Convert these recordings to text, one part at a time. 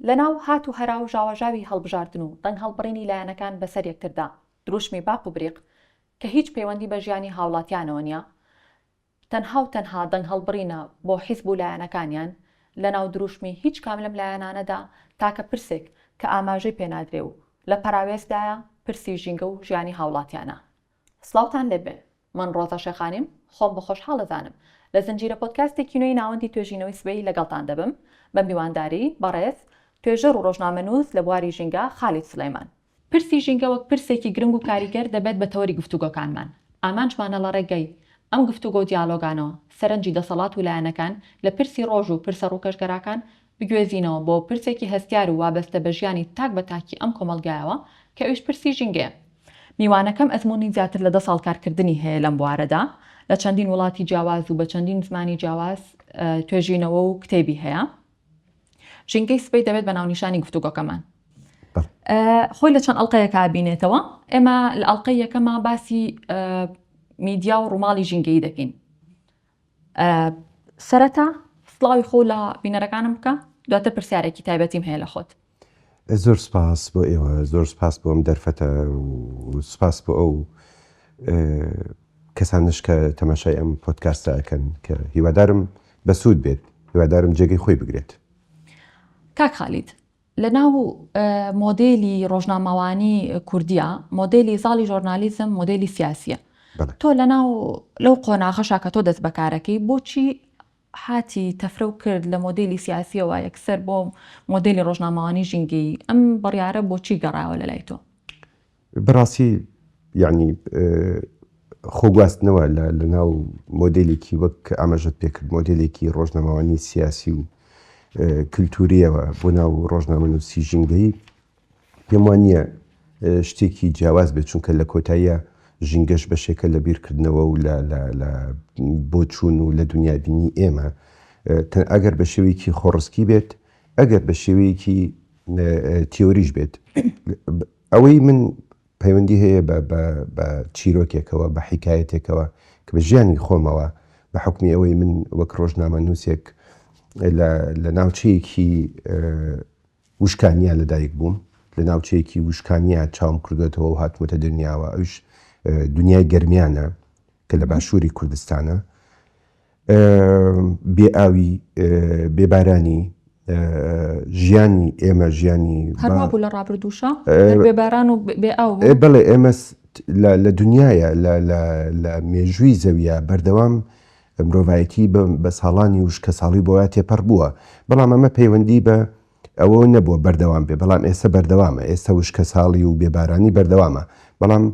لەناو هات و هەرا و ژاواژاوی هەڵبژاردن و دەنگ هەڵبڕینی لایەنەکان بەسەر یەکتردا، دروشمی باق و بریق کە هیچ پەیوەندی بە ژیانی هاوڵاتیانەوە نیە، تەنها و تەنها دەنگ هەڵبڕینە بۆ حیزب و لایەنەکانیان، لەناو دروشمی هیچ کام لەم لایەنانەدا تاکە پرسێک کە ئاماژەی پێنادرێ و لە پەراوێزدایە، پرسی ژینگە و ژیانی هاوڵاتیانە. سڵاوتان لێ بێ من ڕۆزا شێخانیم خۆم بە خۆشحاڵ ئەزانم لە زنجیرە پۆدکاستێکی نوێی ناوەندی توێژینەوەی سبەی لەگەڵتان دەبم بە میوانداری بەڕێز توێژەر و ڕۆژنامەنووس لە بواری ژینگە خالید سڵێمان. پرسی ژینگە وەک پرسێکی گرنگ و کاریگەر دەبێت بە تەوەری گفتوگۆکانمان ئامانجمانە لە ڕێگەی ئەم گفتوگۆ و دیالۆگانەوە سەرنجی دەسەڵات و لایەنەکان لە پرسی ڕۆژ و پرسە ڕووکەشگەراکان بگوێزینەوە بۆ پرسێکی هەستیار و وابەستە بە ژیانی تاک بە تاکی ئەم کۆمەڵگایەوە کە ئەویش پرسی ژینگەیە. میوانەکەم ئەزموونی زیاتر لە دە ساڵ کارکردنی هەیە لەم بوارەدا، لە چەندین وڵاتی جیاواز و بە چەندین زمانی جیاواز توێژینەوە و کتێبی هەیە. ژینگەی سبەی دەبێت بە ناونیشانی گفتوگۆکەمان. خۆی لە چەند ئەڵلقەیەکە بینێتەوە، ئێمە لە ئەڵلقەی یەکەما باسی میدیا و ڕووماڵی ژینگەیی دەکەین. سەرەتا سڵاوی خۆ لە بینەرەکانم بکە دواتر پرسیارێکی تایبەتیم هەیە لە خۆت. زۆر سپاس بۆ ئێوە زۆر سپاس بۆ ئەم دەرفەتە سپاس بۆ ئەو کەسانش کە تەماشای ئەم پۆتکاستەکەن کە هیوادارم بەسوود بێت هیوادارم جێگەی خۆی بگرێت کاک خالید لە ناو مۆدێلی ڕۆژنامەوانی کوردیا، مۆدێلی زاڵی ژۆرنالیزم مۆدێلی سیاسیە. تۆ لە ناو لەو قۆناغەشا کە تۆ دەست بەکارەکەی بۆچی حاتی تەفرەو کرد لە مۆدێلی سیاسیەوە یەکسەر بۆ مۆدێلی ڕۆژنامەوانی ژینگەیی، ئەم بڕیارە بۆچی گەڕایەوە لە لای تۆ؟ بەڕاستی یانی خۆگواستنەوە لە ناو مۆدلێکی وەک کە ئاماژەت پێکرد مۆدلێکی ڕۆژنامەوانی سیاسی و کللتوریەوە بۆ ناو ڕۆژنامە نووسی ژینگەی پێم وانە شتێکی جیاواز بێت چونکە لە کۆتاییە ژینگەش بەشێکە لە بیرکردنەوە و لە بۆچوون و لە دنیا بینی ئێمە ئەگەر بە شێوەیەکی خۆڕسکی بێت ئەگەر بە شێوەیەکی تیۆریش بێت ئەوەی من پەیوەندی هەیە بە بە بە چیرۆکێکەوە، بە حیکایەتێکەوە کە بە ژیانی خۆمەوە بە حوکمی ئەوەی من وەک ڕۆژنامەنووسێک لە لە ناوچەیەکی وشکانیا لەدایک بووم، لە ناوچەیەکی وشکانیا چاوم کردووەتەوە و هاتمەتە دنیاوە، ئەویش دنیای گەرمیانە کە لە باشووری کوردستانە. بێ ئاوی بێ بارانی ژیانی ئێمە ژیانی هەربوو لە ڕابردووشە بێ باران و بێ ئاو بڵێ ئێمە لە دنیاە لە مێژووی زەویە بەردەوام مرۆڤایەتی بە ساڵانی وش کە ساڵی بۆە تێپەر بووە بەڵام ئەمە پەیوەندی بە ئەوە نەبووە بەردەوام بێ بەڵام ئێستا بەردەوامە ئێستا وشکە ساڵی و بێبارانی بەردەوامە بەڵام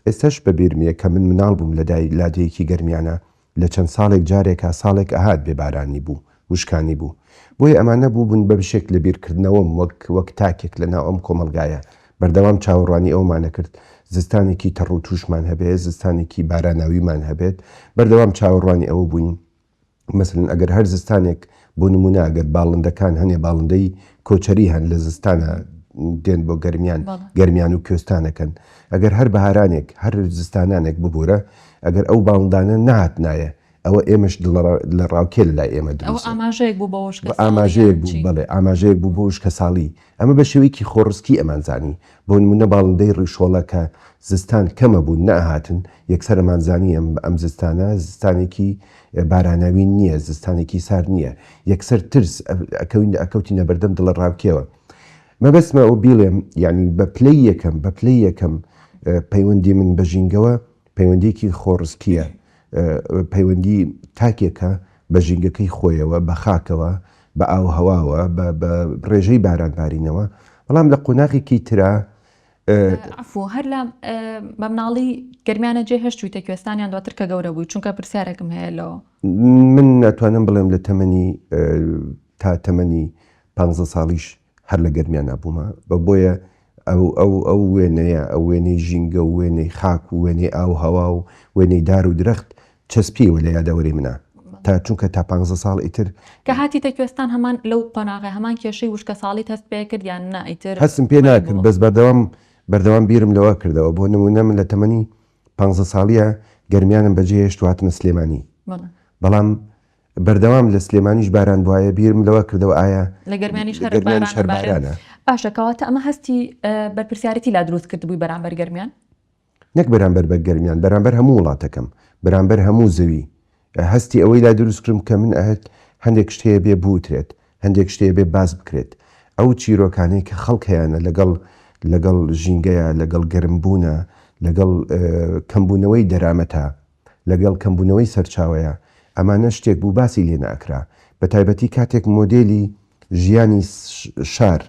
ئێستش بە بیرمیە کە من مناڵ بووم لە دای لادێکی گەرمیانە لە چەند ساڵێک جارێکا ساڵێک ئەهات بێ بارانی بوو وشکانی بوو بۆیە ئەمانە بووبوون بە بشێک لە بیرکردنەوەم وەک وەک تاکێک لە ناو ئەم کۆمەڵگایە بەردەوام چاوەڕوانی ئەوەمان ئەکرد زستانێکی تەڕ و تووشمان هەبێ زستانێکی باراناویمان هەبێت بەردەوام چاوەڕوانی ئەوە بووین مەسەلەن ئەگەر هەر زستانێک بۆ نمونە ئەگەر باڵندەکان هەنێ باڵندەی کۆچەری هەن لە زستانە دێن بۆ گەرمیان گەرمیان و کوێستانەکەن ئەگەر هەر بەهارانێک هەر زستانانێک ببوورە ئەگەر ئەو باڵندانە نهات نایە ئەوە ئێمەش لە ڕاوکێ لە لای ئێمە ئاماژەیەک بوو بەوەش ئاماژەیەک بوو بڵێ ئاماژەیەک بوو بۆش کە ساڵی ئەمە بە شێوەیەکی خۆڕسکی ئەمان زانی، بۆ نموونە باڵندەی ڕیشۆڵە کە زستان کەمە بوون نەئەهاتن، یەکسەر ئەمان زانی ئەم ئەم زستانە زستانێکی باراناوی نییە، زستانێکی سارد نییە، یەکسەر ترس ئەکەوین ئەکەوتینە بەردەم دڵەڕاوکێوە. مەبەستمە ئەوە بیڵێم یانی بە پلەی یەکەم بە پلەی یەکەم پەیوەندی من بە ژینگەوە پەیوەندییەکی خۆڕسکییە پەیوەندی تاکێکە بە ژینگەکەی خۆیەوە، بە خاکەوە، بە ئاووهەواوە، بە ڕێژەی بارانبارینەوە، بەڵام لە قۆناغێکی ترا. عەفوو هەر لە بە مناڵی گەرمیانە جێ هێشتوویتە کوێستان یان دواتر کە گەورە بووی؟ چونکە پرسیارێکم هەیە لۆ. من ناتوانم بڵێم لە تەمەنی تا تەمەنی پانزە ساڵیش هەر لە گەرمیانا بوومە بە بۆیە ئەو وێنەیە ئەو وێنەی ژینگە و وێنەی خاک و وێنەی ئاو هەوا و وێنەی دار و درەخت چەسپیوە لە یادەوەری منە تا چونکە تا پ ساڵ ئیتر کە هاتی تەکوێستان هەمان لەو قۆناغی هەمان کێشەی وشکە ساڵی هەست پێ کردیان نا ئیتر هەستم پێ ناکرد بەس بەردەوام بەردەوام بیرم لەوە کردەوە بۆ نمونە من لە تەمەنی پ ساڵیە گەرمیانم بەجێ هێشت و هاتمە سلێمانی بەڵام بەردەوام لە سلێمانیش باران بوایە بیرم لەوە کردەوە ئایا لە گەرمیانیش هەر گەرمیانیش هەر باران ئەبارێت؟ بارانە؟ باشە کەواتە ئەمە هەستی بەرپرسیارەتی لا دروست کردبووی بەرامبەر گەرمیان؟ نەک بەرامبەر بە گەرمیان بەرامبەر هەموو وڵاتەکەم بەرامبەر هەموو زەوی هەستی ئەوەی لا دروست کردم کە من ئەهت هەندێک شت هەیە بێ بوترێت هەندێک شت هەیە بێ باس بکرێت ئەو چیرۆکانەی کە خەڵک هەیانە لەگەڵ لەگەڵ ژینگەیا لەگەڵ گەرم بوونا لەگەڵ کەم بوونەوەی دەرامەتا لەگەڵ کەمبوونەوەی سەرچاوەیە ئەمانە شتێک بوو باسی لێ نەئەکرا بەتایبەتی کاتێک مۆدێلی ژیانی شار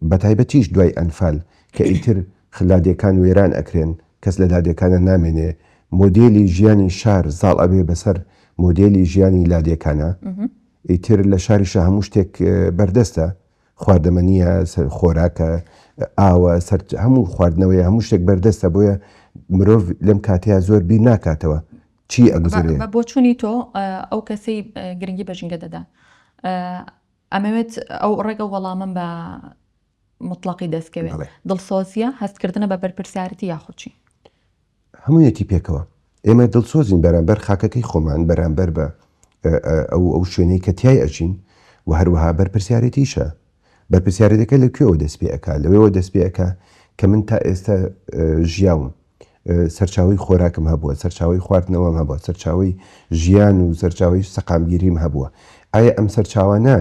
بەتایبەتیش دوای ئەنفال کە ئیتر خلادێکان وێران ئەکرێن کەس لە لادێکانە نامێنێ مۆدێلی ژیانی شار زاڵ ئەبێ بەسەر مۆدێلی ژیانی لادێکانە ئیتر لە شاریشە هەموو شتێک بەردەستە خواردەمە نییە، خۆراکە، ئاوە، سەر هەموو خواردنەوەیە، هەموو شتێک بەردەستە، بۆیە مرۆڤ لەم کاتەیا زۆر بیر ناکاتەوە چی ئەگوزەرێ. بە بۆچوونی تۆ ئەو کەسەی گرنگی بە ژینگە دەدا، ئەمەوێت ئەو ڕێگە وەڵامم بە موتڵەقی دەستکەوێت، دڵسۆزییە، هەستکردنە بە بەرپرسیارەتی یاخود چی؟ هەموویەتی پێکەوە ئێمە دڵسۆزین بەرامبەر خاکەکەی خۆمان بەرامبەر بە ئەو ئەو شوێنەی کە تیای ئەژین و هەروەها بەرپرسیارێتیشە بەرپرسیارێتەکە لە کوێوە دەست پێ ئەکا لەوێوە دەست پێ ئەکا کە من تا ئێستا ژیاوم سەرچاوی خۆراکم هەبووە سەرچاوی خواردنەوەم هەبووە سەرچاوی ژیان و سەرچاوی سەقامگیریم هەبووە ئایا ئەم سەرچاوانە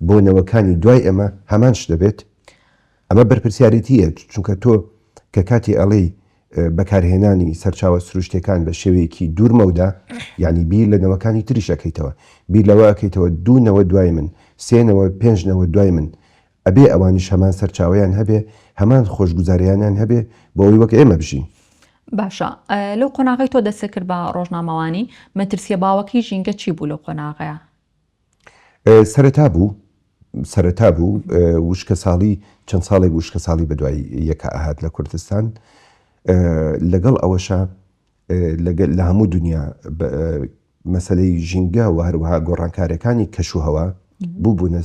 بۆ نەوەکانی دوای ئەمە هەمان شت دەبێت ئەمە بەرپرسیارێتییە چونکە تۆ کە کاتێ ئەڵێی بەکارهێنانی سەرچاوە سروشتیەکان بە شێوەیەکی دوور مەودا یعنی بیر لە نەوەکانی تریش ئەکەیتەوە بیر لەوە ئەکەیتەوە دوو نەوە دوای من سێ نەوە پێنج نەوە دوای من ئەبێ ئەوانیش هەمان سەرچاوەیان هەبێ هەمان خۆشگوزاریانیان هەبێ بۆ ئەوی وەک ئێمە بژین باشە لەو قۆناغی تۆ دەسەکرد بە ڕۆژنامەوانی مەترسیە باوەکەی ژینگە چی بوو لەو قۆناغەیە سەرەتا بوو سەرەتا بوو وشکە ساڵی چەند ساڵێک وشکە ساڵی بە دوای یەکە ئاهات لە کوردستان لەگەڵ ئەوەشە لە هەموو دنیا مەسلەی ژینگە و هەروەها گۆڕانکارەکانی کەشوهەوە بوو بوونە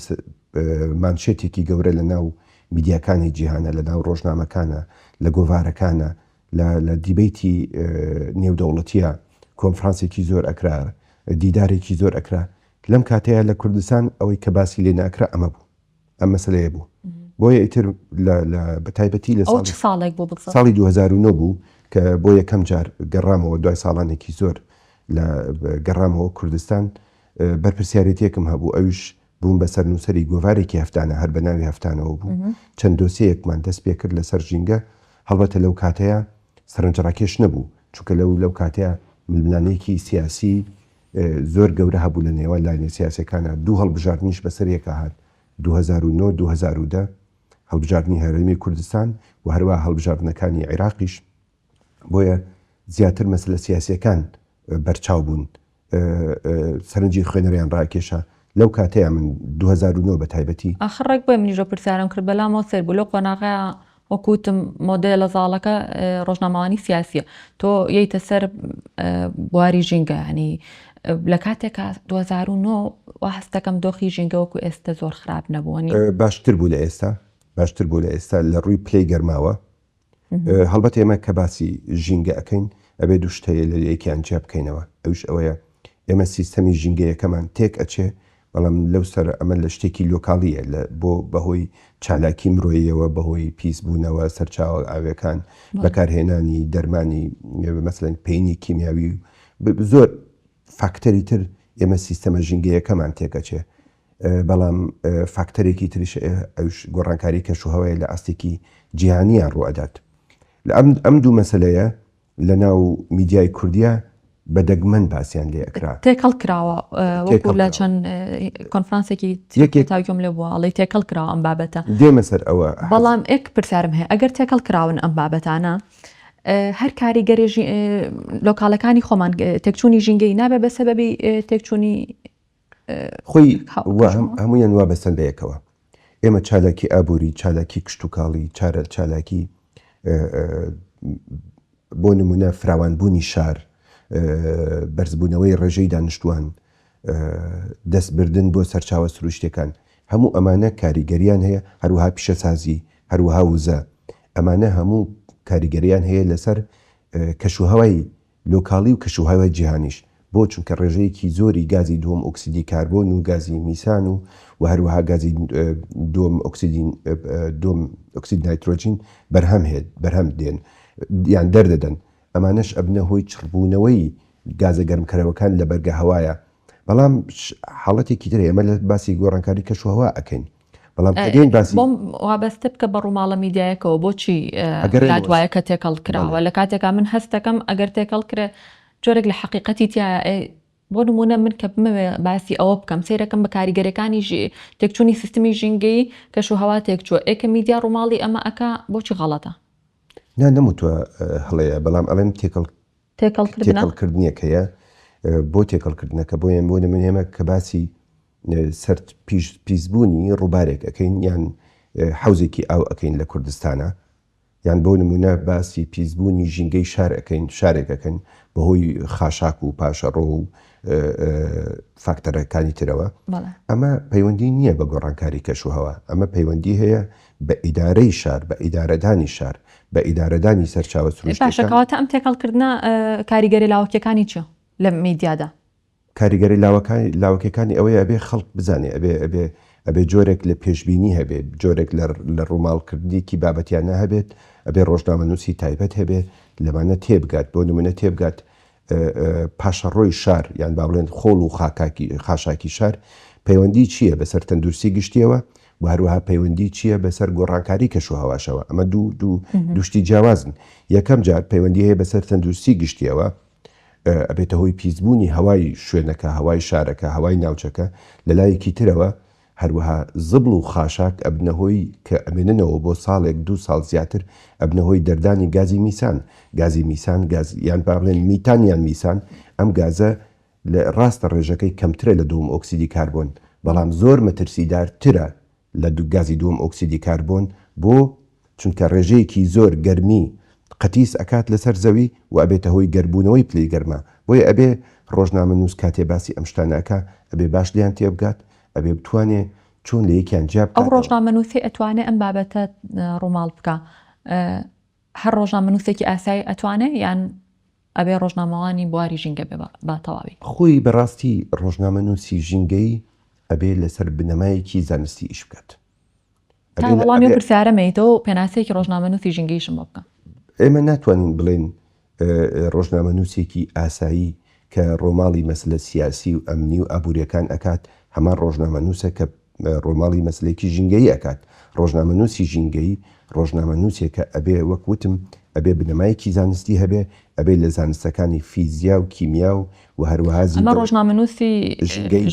مانشێتێکی گەورە لە ناو میدیاکانی جیهانە لە ناو ڕۆژنامەکانە لە گۆڤارەکانە لە لە دیبەیتی نێودەوڵەتیە کۆنفرانسێکی زۆر ئەکرا دیدارێکی زۆر ئەکرا لەم کاتەیە لە کوردستان ئەوەی کە باسی لێ ناکرا ئەمە بوو ئەم مەسلەیە بوو بۆیە ئیتر بە تایبەتی لە ساڵێک بۆ ساڵی 2009 بوو کە بۆ یەکەم جار گەڕامەوە دوای ساڵانێکی زۆر لە گەڕامەوە کوردستان بەرپسیارەتێکم هەبوو ئەوش بووم بە سەرنووسەری گۆڤارێکی هەفتانە، هەر بە ناوی هەفتانەوە بوو، چەند دۆسێیەکمان دەست پێ کرد لەسەر ژینگە، هەڵبەتە لەو کاتەیا سەرنجڕاکێش نەبوو، چونکە لەو لەو کاتەیا ململانێکی سیاسی زۆر گەورە هەبوو لە نێوان لایەنە سیاسیەکانا، دوو هەڵبژاردنیش بە سەریەکا هات، دوو هەزار و نۆ، دوو هەزار و دە، هەڵبژاردنی هەرێمی کوردستان و هەروەها هەڵبژاردنەکانی عیراقیش، بۆیە زیاتر مەسەلە سیاسیەکان بەرچاو بوون سەرنجی خوێنەریان ڕاکێشا لەو کاتەیە من 2009 بە تایبەتی. ئاخر ڕێک بۆیە منیشۆ پرسیارم کرد بەلامەوە سەیر بوو لەو قۆناغەیە وەکوتم مۆدێلە زاڵەکە ڕۆژنامەوانی سیاسیە تۆ یەیتە سەر بواری ژینگە ینی لە کاتێکا 2009 وا هەستەکەم دۆخی ژینگە وەکو ئێستا زۆر خراپ نەبوونی باشتر بوو لە ئێستا باشتر بوو لە ئێستا لە ڕووی پلەی گەرماوە هەڵبەت ئێمە کە باسی ژینگە ئەکەین ئەبێ دوو شت هەیە لە یەکیان جیا بکەینەوە ئەویش ئەوەیە ئێمە سیستەمی ژینگەیەکەمان تێک ئەچێ بەڵام لەو سەر ئەمە لە شتێکی لۆکاڵیە لە بۆ بەهۆی چالاکی مرۆیەوە بەهۆی پیس بوونەوە سەرچاوە ئاوێکان بەکارهێنانی دەرمانی مەسلەن پینی کیمیاوی زۆر فاکتەری تر ئێمە سیستەمە ژینگەیەکەمان تێکەچێ بەڵام فاکتەرێکی تریش ئەوش گۆڕانکاری کەشوهەوای لە ئاستێکی جیهانیان ڕوئەدات لە ئەم ئەم دوو مەسلەیە لە ناو میدیای کوردیا بە دەگمەن باسییان لێ ئەکرا تێکەڵ کراوە وەکو لە چەند کۆنفرانسێکی یەکێ تاویۆم لێ بووە ئەڵی تێکەڵ کراوە ئەم بابەتە دێمە سەر ئەوە بەڵام ئێک پرسیارم هەیە ئەگەر تێکەڵ کراون ئەم بابەتانە هەر کاریگەری لۆکالەکانی خۆمان تێکچوونی ژینگەی نابێ بە سەبەبی تێکچوونی خۆی وا هەموویان وا بەستەن بە یەکەوە. ئێمە چالاکی ئابووری، چالاکی کشتوکاڵی، چارە چالاکی بۆ نموونە فراوانبوونی شار، بەرزبوونەوەی ڕێژەی دانیشتووان، دەستبردن بۆ سەرچاوە سروشتییەکان، هەموو ئەمانە کاریگەرییان هەیە، هەروەها پیشەسازی، هەروەها وزە، ئەمانە هەموو کاریگەرییان هەیە لەسەر کەشوهەوای لۆکاڵی و کەشوهەوای جیهانیش بۆ چونکە ڕێژەیەکی زۆری گازی دووەم ئۆکسیدی کاربۆن و گازی میسان و و هەروەها گازی دووەم ئۆکسیدی دووەم ئۆکسید نایترۆجین بەرهەم هێد بەرهەم دێن یان دەردەدەن ئەمانەش ئەبنە هۆی چڕبوونەوەی گازە گەرمکەرەوەکان لە بەرگە هەوایە بەڵام حاڵەتێکی ترە ئێمە لە باسی گۆڕانکاری کەشوهەوا ئەکەین بەڵام ئەگەین باسی بۆم وابەستە بکە بە ڕووماڵە میدیایەکەوە بۆچی ئەگەرێ لات وایە کە تێکەڵ کراوە بەڵێ. لە کاتێکا من هەستەکەم ئەگەر تێکەڵ کرێ جۆرێک لە حقیقەتی تایە ئێ، بۆ نمونە من کە بمەوێ باسی ئەوە بکەم سیرەکەم بە کاریگەرەکانی ژی تێکچوونی سیستمی ژینگەی کەش و هەوا تێکچووە ئێ کە میدیا ڕووماڵی ئەمە ئەکا بۆچی غەڵەتە نا نەموتوە هەڵەیە بەڵام ئەڵێم تێکەڵ تێکەڵ کردنە تێکەڵکردنێک هەیە ئە، بۆ تێکەڵکردنەکە بۆیە بۆ نمونە ئێمە کە باسی سەرد پیش پیسبوونی ڕووبارێک ئەکەین یان حەوزێکی ئاو ئەکەین لە کوردستانا یان بۆ نموونە باسی پیسبوونی ژینگەی شار ئەکەین شارێک ئەکەین بەهۆی خاشاک و پاشەڕۆ و فاکتەرەکانی ترەوە ئەمە پەیوەندی نییە بە گۆڕانکاری کەشوهەوا ئەمە پەیوەندی هەیە بە ئیدارەی شار بە ئیدارەدانی شار بە ئیدارەدانی سەرچاوە سروشتەکان. باشە کەواتە ئەم تێکەڵکردنە کاریگەرە لاوەکیەکانی چیە لە میدیادا؟ کاریگەری لاوەکانی لاوەکیەکانی ئەوەیە ئەبێ خەڵک بزانێ ئەبێ ئەبێ ئەبێ جۆرێک لە پێشبینی هەبێ جۆرێک لە لە ڕووماڵ کردنێکی بابەتیانە هەبێت ئەبێ ڕۆژنامەنووسی تایبەت هەبێ لەمانە تێبگات بۆ نمونە تێبگات پاشەڕۆی شار یان با بڵێن خۆڵ و خاکاکی خاشاکی شار پەیوەندی چییە بەسەر تەندروستی گشتیەوە و هەروەها پەیوەندی چییە بەسەر گۆڕانکاری کەش و هەواشەوە ئەمە دوو دوو دوشتی جیاوازن یەکەم جار پەیوەندی هەیە بەسەر تەندروستی گشتیەوە ئەبێتە هۆی پیسبوونی هەوای شوێنەکە، هەوای شارەکە، هەوای ناوچەکە، لە لایەکی ترەوە هەروەها زبڵ و خاشاک ئەبنە هۆی کە ئەمێننەوە بۆ ساڵێک دوو ساڵ زیاتر ئەبنە هۆی دەردانی گازی میسان، گازی میسان گاز یان با بڵێن میتان یان میسان ئەم گازە راستە رێژەکەی کەمترە لە دووەم ئۆکسیدی کاربۆن بەڵام زۆر مەترسیدار ترە لە گازی دووەم ئۆکسیدی کاربۆن بۆ چونکە ڕێژەیەکی زۆر گەرمی قەتیس ئەکات لەسەر زەوی و ئەبێتە هۆی گەربوونەوەی پلەی گەرما بۆیە ئەبێ ڕۆژنامەنووس کاتێ باسی ئەم شتانە ئەکا ئەبێ باش لێیان تێبگات ئەبێ بتوانێ چۆن لە یەکیان جیا بکاتەوە. ئەو ڕۆژنامەنووسەی ئەتوانێ ئەم بابەتە ڕووماڵ بکا هەر ڕۆژنامەنووسێکی ئاسایی ئەتوانێ یان ئەبێ ڕۆژنامەوانی بواری ژینگە بێ بە تەواوی؟ خۆی بە ڕاستی ڕۆژنامەنووسی ژینگەی ئەبێ لەسەر بنەمایەکی زانستی ئیش بکات. تا وەڵامی ئەو پرسیارە مەیتەوە پێناسەیەکی ڕۆژنامەنووسی ژینگەیشم بۆ بکە. ئێمە ناتوانین بڵێین ڕۆژنامەنووسێکی ئاسایی کە ڕۆماڵی مەسلە سیاسی و ئەمنی و ئابوریەکان ئەکات هەمان ڕۆژنامەنوسە کە ڕۆماڵی مەسلەیەکی ژینگەیی ئەکات، ڕۆژنامەنوسی ژینگەیی ڕۆژنامەنوسێکە ئەبێ وەک وتم ئەبێ بنەمایەکی زانستی هەبێ ئەبێ لە زانستەکانی فیزیا و کیمیا و وە هەروەها زیندەوەری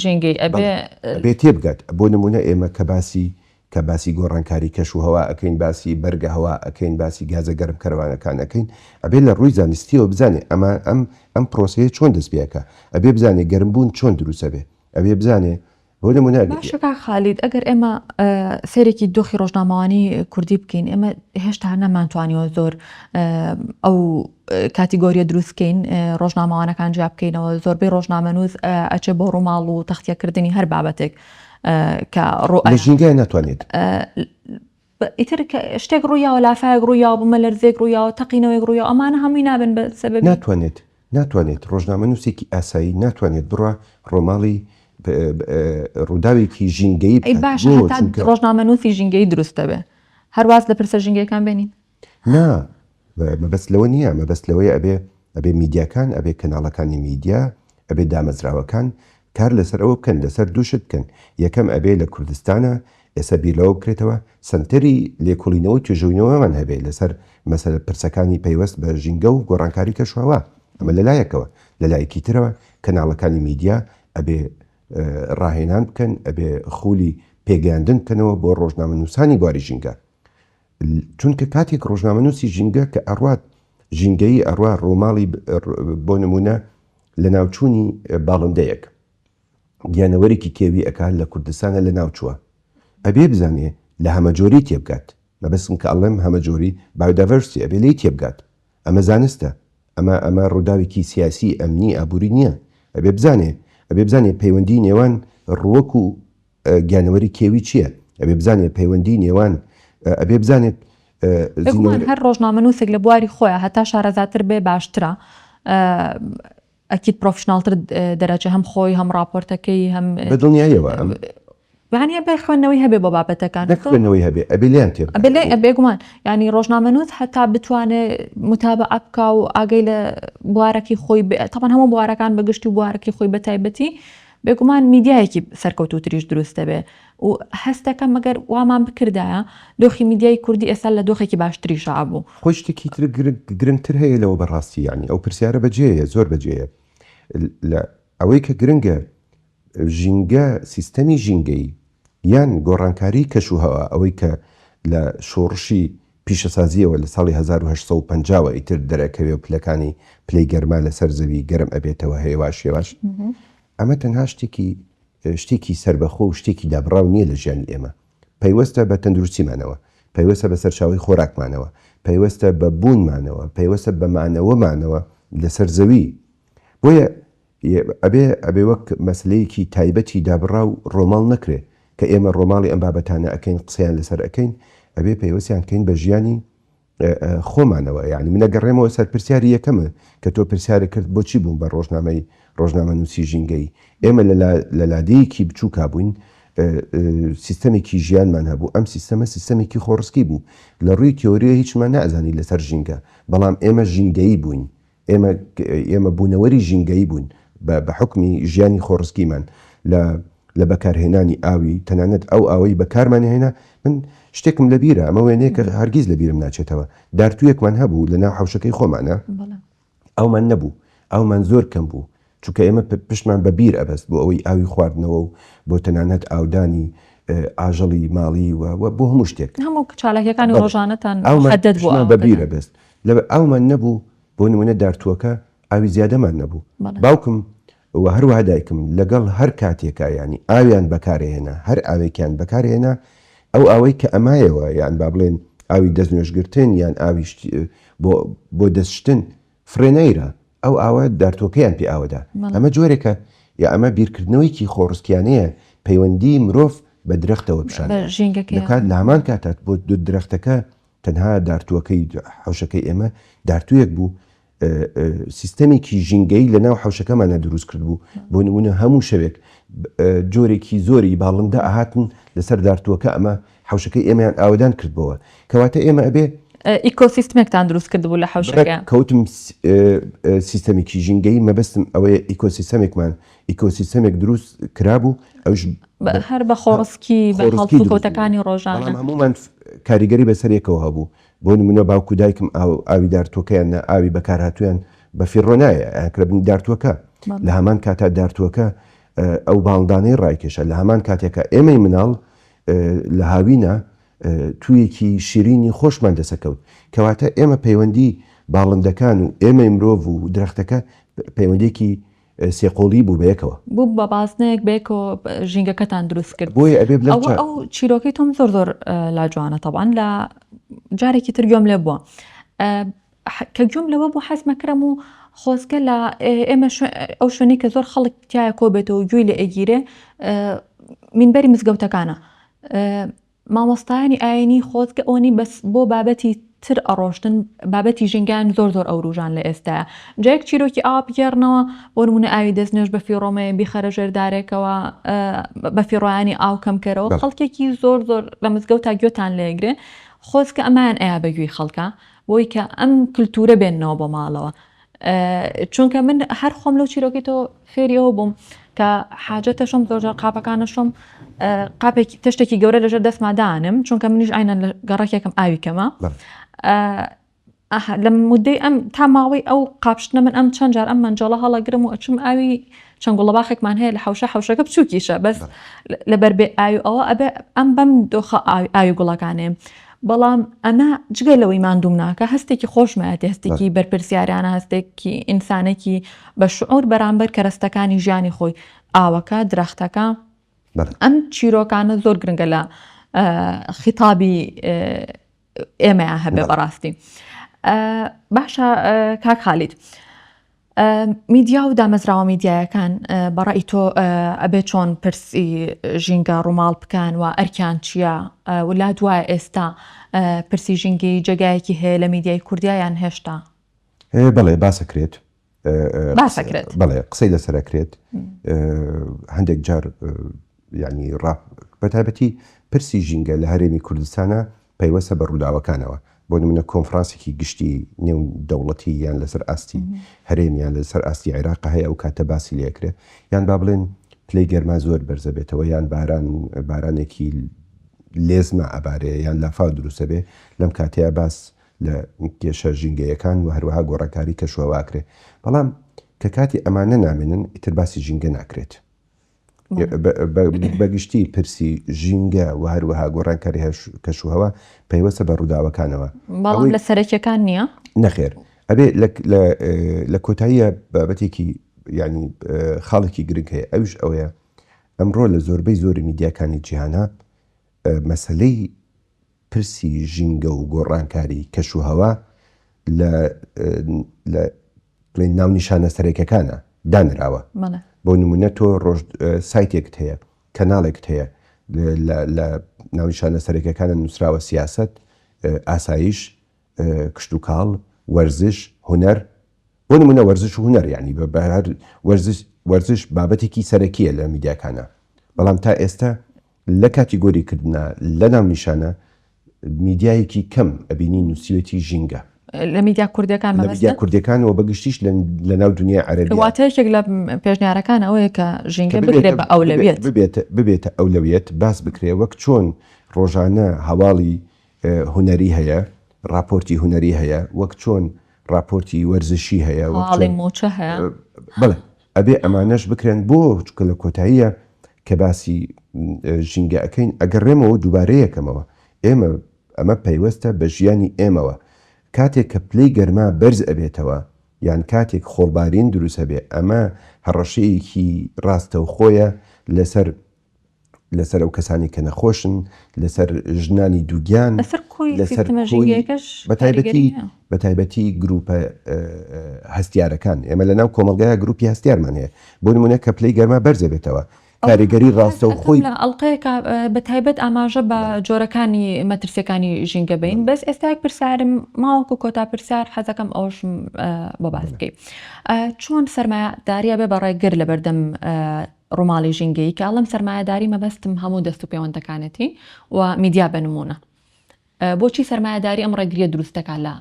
ژینگەیی ئەبێ تێبگات، بۆ نمونە ئێمە کە باسی کە باسی گۆڕانکاری کەش و هەوا ئەکەین باسی بەرگە هەوا ئەکەین باسی گازە گەرم کەرەوانەکان ئەکەین ئەبێ لە ڕووی زانستیەوە بزانێ ئەمە ئەم ئەم پرۆسەیە چۆن دەست پێ ئەکا ئەبێ بزانێ گەرم بوون چۆن دروست ئەبێ ئەبێ بزانێ بۆ نمونە باشە کاک خالید ئەگەر ئێمە سەیرێکی دۆخی ڕۆژنامەوانی کوردی بکەین ئێمە هێشتا نەمانتوانیوە زۆر ئەو کاتیگۆریە دروستکەین ڕۆژنامەوانەکان جیا بکەینەوە زۆربەی ڕۆژنامەنووس ئەچێ بۆ ڕووماڵ و تەختیەکردنی هەر بابەتێک کە ڕۆ لە ژینگای ناتوانێت. ئیتر شتێک ڕوویاوە لافاەک ڕوویاوە بمە لەرزێک ڕوویاوە تەقینەوەی ڕوویا ئەمانە هەمووی نابن بە سەبەر ناتوانێت ناتوانێت ڕۆژنامە نووسێکی ئاسایی ناتوانێت بڕە ڕۆماڵی ڕووداوێکی ژینگەی باش ڕۆژنامە نووسی ژینگەی دروستەبێ هەرواز لە پرسە ژینگەکان بێنین نا مەبەست لەوە نیە مەبەست لەوەیە ئەبێ ئەبێ میدیاکان ئەبێ کەناڵەکانی میدیا ئەبێ دامەزراوەکان کار لەسەر ئەوە بکەن لەسەر دوو شت بکەن یەکەم ئەبێ لە کوردستانە ئێستا بیر لەوە بکرێتەوە سەنتەری لێکۆڵینەوە توێژوینەوەمان هەبێ لەسەر مەسەر پرسەکانی پەیوەست بە ژینگە و گۆڕانکاری کەشوهوا ئەمە لەلایەکەوە لەلایەکی ترەوە کەناڵەکانی میدیا ئەبێ ڕاهێنان بکەن ئەبێ خولی پێگەیاندن بکەنەوە بۆ ڕۆژنامە نووسانی بواری ژینگە چونکە کاتێک ڕۆژنامەنووسی ژینگە کە ئەڕوات ژینگەیی ئەڕوا ڕۆماڵی بۆ نمونە لە ناوچوونی باڵندەیەک گیانەوەرێکی کێوی ئەکا لە کوردستانە لە ناوچووە ئەبێ بزانێ لە هەمەجۆری تێبگات مەبەستم کە ئەڵێم هەمەجۆری بایۆدایڤەرسیتی ئەبێ لێی تێبگات ئەمە زانستە ئەمە ئەمە ڕووداوێکی سیاسی ئەمنی ئابووری نییە ئەبێ بزانێ ئەبێ بزانێ پەیوەندی نێوان ڕووەک و گیانەوەری کێوی چییە ئەبێ بزانێت پەیوەندی نێوان ئەبێ بزانێت هەر ڕۆژنامە نووسێک لە بواری خۆیان هەتا شارەزاتر بێ باشترە ئەکییت پرۆفشنناڵتر دەرەجە هەم خۆی هەم راپۆرتەکەی هەم دڵنیایەوە یانە بە خوێندنەوەی هەبێ بۆ بابەتەکان خوێندنەوەی هەبێ ئەبلیان تێ بێگومان ینی ڕۆژنامەنووت هەتا بتوانێ متابە ئەپکا و ئاگەی لە بوارەکەی خۆی تەپەن هەموو بوارەکان بەگشتی و بوارەکەی خۆی بە تایبەتی بێگومان میدیایەکی سەرکەوتووتریش دروست دەبێت و هەست دەکەم گەر وامان بکردایە دۆخی میدیای کوردی ئێستا لە دۆخێکی باشتریشا ئەبوو. خۆی شتێکی تر گرنگتر هەیە لەوە بە ڕاستی یەعنی ئەو پرسیارە بە جێیە زۆر بە جێیە لە ئەوەی کە گرنگە ژینگە سیستەمی ژینگەیی یان گۆڕانکاری کەش و هەوا ئەوەی کە لە شۆڕشی پیشەسازییەوە لە ساڵی هەزار و هەشت سەد و پەنجا وە ئیتر دەرئەکەوێ و پلەکانی پلەی گەرما لەسەر زەوی گەرم ئەبێتەوە هەێواش هێواش ئەمە تەنها شتێکی شتێکی سەربەخۆ و شتێکی دابڕاو نییە لە ژیانی ئێمە پەیوەستە بە تەندروستیمانەوە پەیوەستە بە سەرچاوی خۆراکمانەوە پەیوەستە بە بوونمانەوە پەیوەستە بە مانەوەمانەوە لەسەر زەوی بۆیە ئەبێ ئەبێ وەک مەسەلەیەکی تایبەتی دابڕا و ڕۆماڵ نەکرێ کە ئێمە ڕۆماڵی ئەم بابەتانە ئەکەین قسەیان لەسەر ئەکەین ئەبێ پەیوەستیان کەین بە ژیانی خۆمانەوە یانی من ئەگەڕێمەوە سەر پرسیاری یەکەمە کە تۆ پرسیارە کرد بۆچی بووم بە ڕۆژنامەی ڕۆژنامە نووسی ژینگەی ئێمە لە لادێیەکی بچووکا بووین سیستەمێکی ژیانمان هەبوو ئەم سیستەمە سیستەمێکی خۆڕسکی بوو لە ڕووی تیۆریە هیچمان نازانی لەسەر ژینگە بەڵام ئێمە ژینگەیی بووین ئێمە ئێمە بوونەوەری ژینگەیی بووین بە بە حوکمی ژیانی خۆڕسکیمان لە لە بەکارهێنانی ئاوی تەنانەت ئەو ئاوەی بەکارمان هێنا من شتێکم لە بیرە ئەمە وێنەیە کە هەرگیز لە بیرم ناچێتەوە دارتوویەکمان هەبوو لە ناو حەوشەکەی خۆمانە ئەومان نەبوو ئەومان زۆر کەم بوو چونکە ئێمە پشتمان بە بیر ئەبەست بۆ ئەوەی ئاوی خواردنەوە و بۆ تەنانەت ئاودانی ئاژەڵی ماڵی و بۆ هەموو شتێک هەموو چالاکیەکانی ڕۆژانەتان بە بیرە بەست لە ئەومان نەبوو بۆ نمونە دارتووەکە ئاوی زیادەمان نەبوو باوکم و هەروە دایکم لەگەڵ هەر کاتێکا ینی ئاویان بەکارهێنا هەر ئاوێکیان بەکارهێنا ئەو ئەوەی کە ئەمایەوە یان با بڵێن ئاوی دەست نوێشگرتن یان ئاویشت بۆ دەستشتن فرێنەیرا ئەو ئاوە دارتوەکەیان پێ ئاوەدا ئەمە جۆرێکە یا ئەمە بیرکردنەوەیەکی خۆڕسکیانەیە پەیوەندی مرۆڤ بە درەختەوە پیشان دەکات لە هەمان کاتات بۆ درەختەکە تەنها دارتوەکەی حەوشەکەی ئێمە دارتوێک بوو سیستەمێکی ژینگەی لە ناو حەوشەکەمانە دروست کرد بوو بۆ نمونە هەموو شەوێک جۆرێکی زۆری باڵندە ئاهاتن لەسەر دارتوەکە ئەمە حەوشەکەی ئێمەیان ئاوەدان کردبەوە کەواتە ئێمە ئەبێ ئیکۆسیستمێکتان دروست کردبوو لە حەوشەکە کەوتم سیستەمێکی ژینگەی مەبەستم ئەوەیە ئیکۆسیستەمێکمان ئیکۆسیستەمێک دروست کرابوو ئەوش هەر بە خۆڕسکی کۆتەکانی ڕۆژان هەمومان کاریگەری بەسەرێکەوە هەبوو بۆ نمونە باوکو دایکم ئاوی دارتۆکەیان نە ئاوی بەکارهاتویان بە فیڕۆنایە ئەکربنی دارتوەکە لە هەمان کاتا دارتوەکە ئەو باڵدانەی ڕایکێشە لە هەمان کاتێکە ئێمەی مناڵ لە هاوینە توویەکی شیرینی خۆشمان دەسەکەوت. کەواتە ئێمە پەیوەندی باڵندەکان و ئێمەی مرۆڤ و درەختەکە پەیوەندیەکی سێ قۆڵی بوو بەیەکەوە. بوو بە بازنەیەک بەیەکەوە ژینگەکەتان دروست کرد. بۆیە ئەبێ بلەم چا. ئەوە ئەو چیرۆکەی تۆم زۆر زۆر لا جوانە تەبعەن لا جارێکی تر گوێم لێ بووە کە گوێم لەوە بوو حەز مەکرم و خۆزگە لە ئێمە ئەو شوێنەی کە زۆر خەڵک تایە کۆ بێتەوە و گوێی لە ئەگیرێ مینبەری مزگەوتەکانە مامۆستایانی ئاینی خۆزگە ئەوەنی بەس بۆ بابەتی تر ئەڕۆشتن بابەتی ژینگان زۆر زۆر ئەوروژان لە ئێستاە جایەک چیرۆکی ئاوا بگێڕنەوە بۆ نمونە ئاوی دەست نوێش بە فیڕۆمەیە بیخەرە ژێردارێکەوە بە فیڕۆیانی ئاو کەمکەرەوە خەڵکێکی زۆر زۆر لە مزگەوت تا گوێتان لێگرێ خۆزکە ئەمان ئەیا بەگوێی خەڵکە بۆی کە ئەم کللتورە بێنەوە بۆ ماڵەوە چونکە من هەر خۆم لەو چیرۆکی تۆ فێری ئەوە بووم کە حاجەتە شم زۆرجار قاپەکانە شم قاپێکی تشتێکی گەورە لەژێر دەستمادانم چونکە منیش ئاینە گەڕکێکم ئاوی کەمە لە مدەی ئەم تا ماوەی ئەو قاپشتنە من ئەم چەند جار ئەم منجەڵە هەڵەگرم و ئەچم ئاوی چەند گوڵە باخێکمان هەیە لە حوشە حوشەکە بچووکیشە بەس لەبەر بێ ئاوی ئەوە ئەبێ ئەم بەم دۆخە ئاوی گوڵەکانێ بەڵام ئەمە جگە لەوەی ماندووم ناکە هەستێکی خۆشمایەتی هەستێکی بەرپرسیارانە هەستێکی ئینسانێکی بە شعور بەرامبەر کەرەستەکانی ژیانی خۆی ئاوەکە درەختەکە ئەم چیرۆکانە زۆر گرنگە لە خیتابی ئێمەیان هەبێ بەڕاستی باشە کاک خالیت میدیا و دامەزراوە میدیایەکان بە ڕای تۆ ئەبێ چۆن پرسی ژینگە ڕووماڵ بکەن و ئەرکیان چییە ولا دوای ئێستا پرسی ژینگی جێگایەکی هەیە لە میدیای کوردیایان هێشتا بەڵێ باسەکرێت باسەکرێت بەڵێ قسەی لەسەرەکرێت هەندێک جار یانی ڕاپ بە تایبەتی پرسی ژینگە لە هەرێمی کوردستانە پەیوەستە بە ڕووداوەکانەوە، بۆ نموونە کۆنفڕانسێکی گشتی نێو دەوڵەتی یان لەسەر ئاستی هەرێم یان لەسەر ئاستی عێراق هەیە ئەو کاتە باسی لێ ئەکرێ یان با بڵێن پلەی گەرما زۆر بەرز ئەبێتەوە یان باران بارانێکی لێزمە ئەبارێ یان لافاو دروست ئەبێ لەم کاتەیە باس لە کێشە ژینگەیەکان و هەروەها گۆڕانکاری کەشوهەوا کرێ بەڵام کە کاتی ئەمانە نامێنن ئیتر باسی ژینگە ناکرێت بە گشتی پرسی ژینگە و هەروەها گۆڕانکاری هەش کەش و هەوا پەیوەستە بە ڕووداوەکانەوە بەڵام لە سەرەکیەکان نییە نەخێر ئەبێ لە کۆتاییە بابەتێکی ینی خاڵێکی گرنگ هەیە ئەوش ئەوەیە ئەمڕۆ لە زۆربەی زۆری میدیاکانی جیهانە مەسلەی پرسی ژینگە و گۆڕانکاری کەش و هەوا لە بڵێن ناونیشانە سەرەکیەکانە دانراوە بۆ نمونە تۆ ڕۆژ سایتێکت هەیە کەناڵێکت هەیە لە ناونیشانە سەرەکیەکانە نووسراوە سیاست ئاسایش کشتتوکاڵ وەرزش هوەر بۆ نمونە وەرزش و هوەر ینی بە بەهر وەرزش وەرزش بابەتێکی سەرەکیە لە میدیاکانە بەڵام تا ئێستا لە کاتیگۆری کردنا لە ناونیشانە میدیایەکی کەم ئەبینی نووسیوێتی ژینگە. لە میدیا کوردیەکان مەبەستە؟ لە میدیا کوردیەکان و بەگشتیش لە ناو دونیای عەرەبیا. واتە یەکێک لە پێشنیارەکان ئەوەیە کە ژینگە بکرێت بە ئەولەویەت. ببێت ببێتە ئەولەویەت باس بکرێ وەک چۆن ڕۆژانە هەواڵی هونەری هەیە، ڕاپۆرتی هونەری هەیە، وەک چۆن ڕاپۆرتی وەرزشی هەیە، وەک چۆن هەواڵی مووچە هەیە. بەڵێ ئەبێ ئەمانەش بکرێن بۆ چکە لە کۆتاییە کە باسی ژینگە ئەەکەین ئەگەڕێمەوە دووبارەیەکەمەوە ئێمە ئەمە پەیوەستە بە ژیانی ئێمەوە کاتێک کە پلەی گەرما بەرز ئەبێتەوە یان کاتێک خۆڵبارین دروست ئەبێ ئەمە هەڕەشەیەکی ڕاستەوخۆیە لەسەر لەسەر ئەو کەسانەی کە نەخۆشن، لەسەر ژنانی دووگیان، لەسەر کۆی سیستمە ژینگەیەکەش کاریگەری هەیە. بە تایبەتی گرووپە هەستیارەکان، ئێمە لەناو کۆمەڵگایە گرووپی هەستیارمان هەیە، بۆ نموونە کە پلەی گەرما بەرز دەبێتەوە، کاریگەری ڕاستەوخۆی. ئەتوانین لە ئەڵقەیەکا بە تایبەت ئاماژە بە جۆرەکانی مەترسییەکانی ژینگە بەین، بەس ئێستا یەک پرسیارم ماوەکو کۆتا پرسیار حەز دەکەم ئەوەشم بۆ باس بکەی، چۆن سەرمایەدارییە بێ بەڕێگر لەبەردەم ڕوماڵی ژینگەیی کە ئەڵێم سەرمایەداری مەبەستم هەموو دەست و پێوەندەکانێتی و میدیا بە نموونە بۆچی سەرمایەداری ئەم ڕێگریە دروست دەکات لە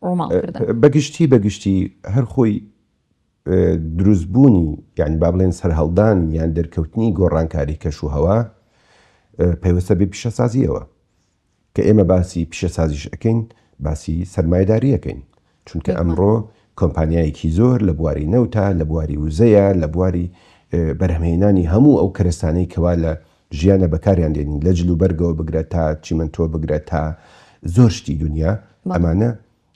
ڕوماڵ کردن؟ بە گشتی بە گشتی هەر خۆی دروست بوونی یان با بڵێن سەرهەڵدانی یان دەرکەوتنی گۆڕانکاری کەش و هەوا پەیوەستە بە پیشەسازیەوە کە ئێمە باسی پیشەسازیش ئەکەین باسی سەرمایەداری ئەکەین چونکە ئەمڕۆ کۆمپانیایەکی زۆر لە بواری نەوتە لە بواری وزەیە لە بواری بەرهمهێنانی هەموو ئەو کەرستانەی کەوا لە ژیانە بەکاریان دێنین لە جل و بەرگەوە بگرە تا چیمەنتۆ بگرە تا زۆر شتی دنیا ئەمانە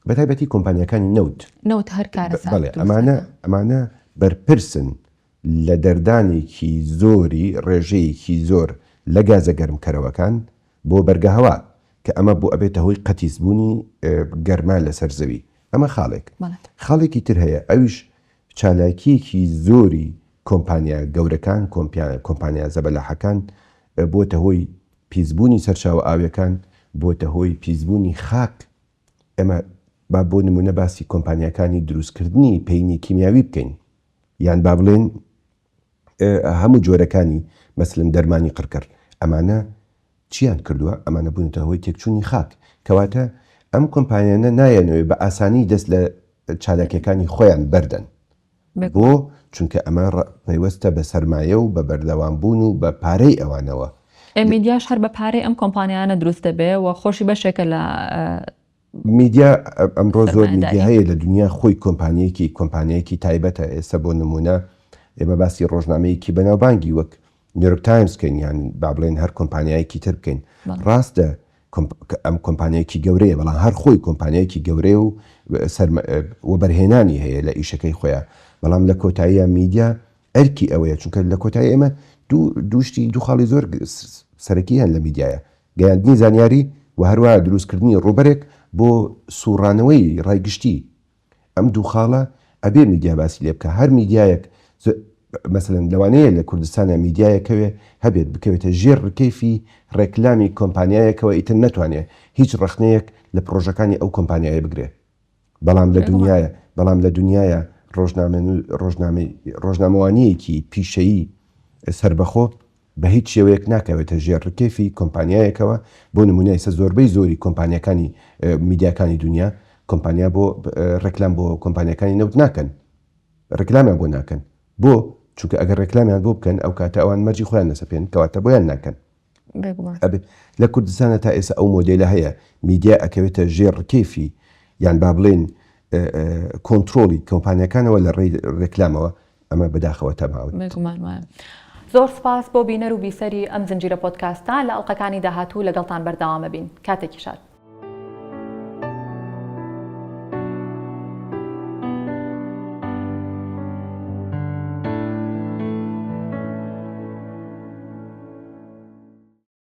بەتایبەتی کۆمپانیەکانی نەوت نەوت هەر کارە ئەمانە ئەمانە بەرپرسن لە دەردانێکی زۆری ڕێژەیەکی زۆر لە گازە گەرمکەرەوەکان بۆ بەرگەهەوا، کە ئەمە بۆ ئەبێتە هۆی قەتیسبوونی گەرما لەسەر زەوی. ئەمە خاڵێک. خاڵێکی تر هەیە ئەویش چالاکییەکی زۆری کۆمپانیا گەورەکان، کۆمپانیا زەبەلاحەکان بووەتە هۆی پیسبوونی سەرچاوە ئاوییەکان، بووەتە هۆی پیسبوونی خاک ئێمە با بۆ نموونە باسی کۆمپانیاکانی دروستکردنی پەینی کیمیاوی بکەین یان با بڵێن هەموو جۆرەکانی مەسلن دەرمانی قڕکەر ئەمانە چیان کردووە ئەمانە بوونەتە هۆی تێکچوونی خاک کەواتە ئەم کۆمپانیانە نایەنەوەی بە ئاسانی دەست لە چالاکیەکانی خۆیان بەردەن بۆ؟ چونکە ئەمە ڕە پەیوەستە بە سەرمایە و بە بەردەوام بوون و بە پارەی ئەوانەوە. ئێ میدیاش هەر بە پارەی ئەم کۆمپانیایانە دروست دەبێ و خۆشی بەشێکە لە. میدیا ئەمڕۆ زۆر میدیا سەرمایەداری. هەیە لە دونیا خۆی کۆمپانییەکی کۆمپانیایەکی تایبەتە ئێستا بۆ نموونە ئێمە باسی ڕۆژنامەیەکی بەناوبانگی وەک نیۆرک تایمز بکەین یان با بڵێن هەر کۆمپانیایەکی تر بکەین ڕاستە ئەم کۆمپانیایەکی گەورەیە بەڵام هەر خۆی کۆمپانیایەکی گەورەیە و وەبەرهێنانی هەیە لە ئیشەکەی خۆیان بەڵام لە کۆتاییە میدیا ئەرکی ئەوەیە چونکە لە کۆتایی ئێمە دووشتی دوو خاڵی زۆر سەرەکی هەن لە میدیایە گەیاندنی زانیاری و هەروە دروستکردنی ڕوبەرێک بۆ سوڕانەوەی ڕای گشتی ئەم دوو خاڵە ئەبێ میدیا باسی لێ بکا هەر میدیایەک مەسەلەن لەوانەیە لە کوردستانا میدیایەک هەوێ هەبێت بکەوێتە ژێر ڕکەیفی ڕێکلامی کۆمپانیایەکەوە ئیتر نەتوانێ هیچ ڕەخنەیەک لە پڕۆژەکانی ئەو کۆمپانیایە بگرێ بەڵام لە دنیایە بەڵام لە دنیایە ڕۆژنامە ڕۆژنامەی ڕۆژنامەوانیەکی پیشەیی سەربەخۆ بە هیچ شێوەیەک ناکەوێتە ژێر ڕکێفی کۆمپانیایەکەوە، بۆ نموونە ئێستا زۆربەی زۆری کۆمپانیاکانی میدیاکانی دونیا کۆمپانیا بۆ ڕێکلام بۆ کۆمپانیاکانی نەوت ناکەن ڕێکلامیان بۆ ناکەن بۆ؟ چونکە ئەگەر ڕێکلامیان بۆ بکەن ئەو کاتە ئەوان مەرجی خۆیان لەسەپێن کەواتە بۆیان ناکەن بێگومان ئەبێ لە کوردستانە تا ئێستا ئەو مۆدێلە هەیە میدیا ئەکەوێتە ژێر ڕکێفی یان با بڵێن کۆنترۆڵی کۆمپانیاکانەوە لە ڕێی ڕێکلامەوە ئەمە بەداخەوە تەماون. بێگومان وایە. زۆر سپاس بۆ بینەر و بیسەری ئەم زنجیرە پۆدکاستە، لە ئەڵقەکانی داهاتوو لەگەڵتان بەردەوام ئەبین. کاتێکی شاد.